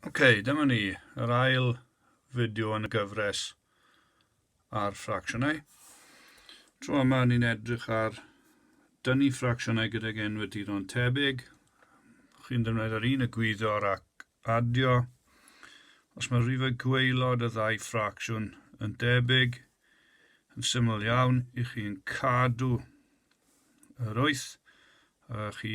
Ok, dyma ni, yr ail fideo yn y gyfres ar ffracsiynau. Tro yma, ni'n edrych ar dynnu ffracsiynau gydag enwau diron tebyg. Chi'n defnyddio yr un y gwyddor ac adio. Os mae rhifau gweilod y ddau ffracsiwn yn debyg, yn syml iawn, i chi'n cadw yr wyth, a chi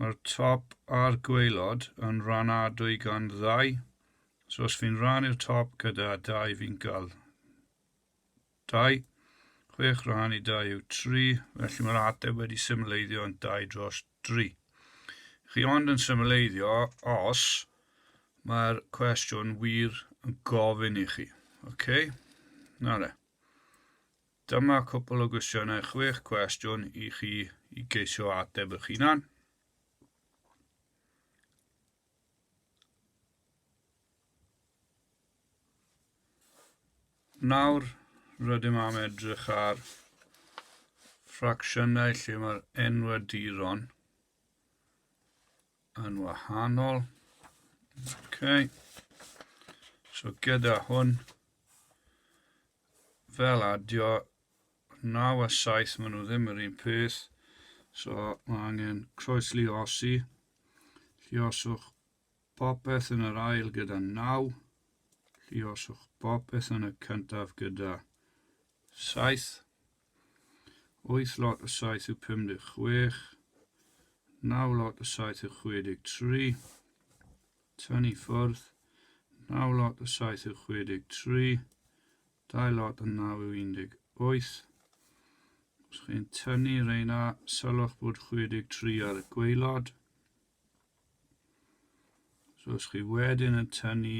Mae'r top a'r gwaelod yn ranadwy gan ddau, so os fi'n rannu'r top gyda dau fi'n cael dau. Chwech rhan i dau yw tri, felly mae'r ateb wedi symleiddio yn dau dros dri. Chi ond yn symleiddio os mae'r cwestiwn wir yn gofyn i chi. OK? Na re. Dyma cwpl o gwestiynau, chwech cwestiwn i chi i geisio ateb eich hunan. Nawr rydym am edrych ar ffracsiynau lle mae'r enwaduron yn wahanol. Okay. So gyda hwn, fel adio 9 a 7 maen nhw ddim yr un peth so mae angen croesliosi llioswch popeth yn yr ail gyda 9 llioswch popeth yn y cyntaf gyda 7 Wyth lot o saith yw 56. Naw lot o saith yw 63. Tynnu ffwrdd. Naw lot o saith yw 63. Dau lot o naw yw 18. Os chi'n tynnu reina, sylwch bod 63 ar y gweilod. So os chi wedyn yn tynnu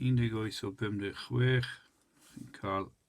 18 o 56, chi'n cael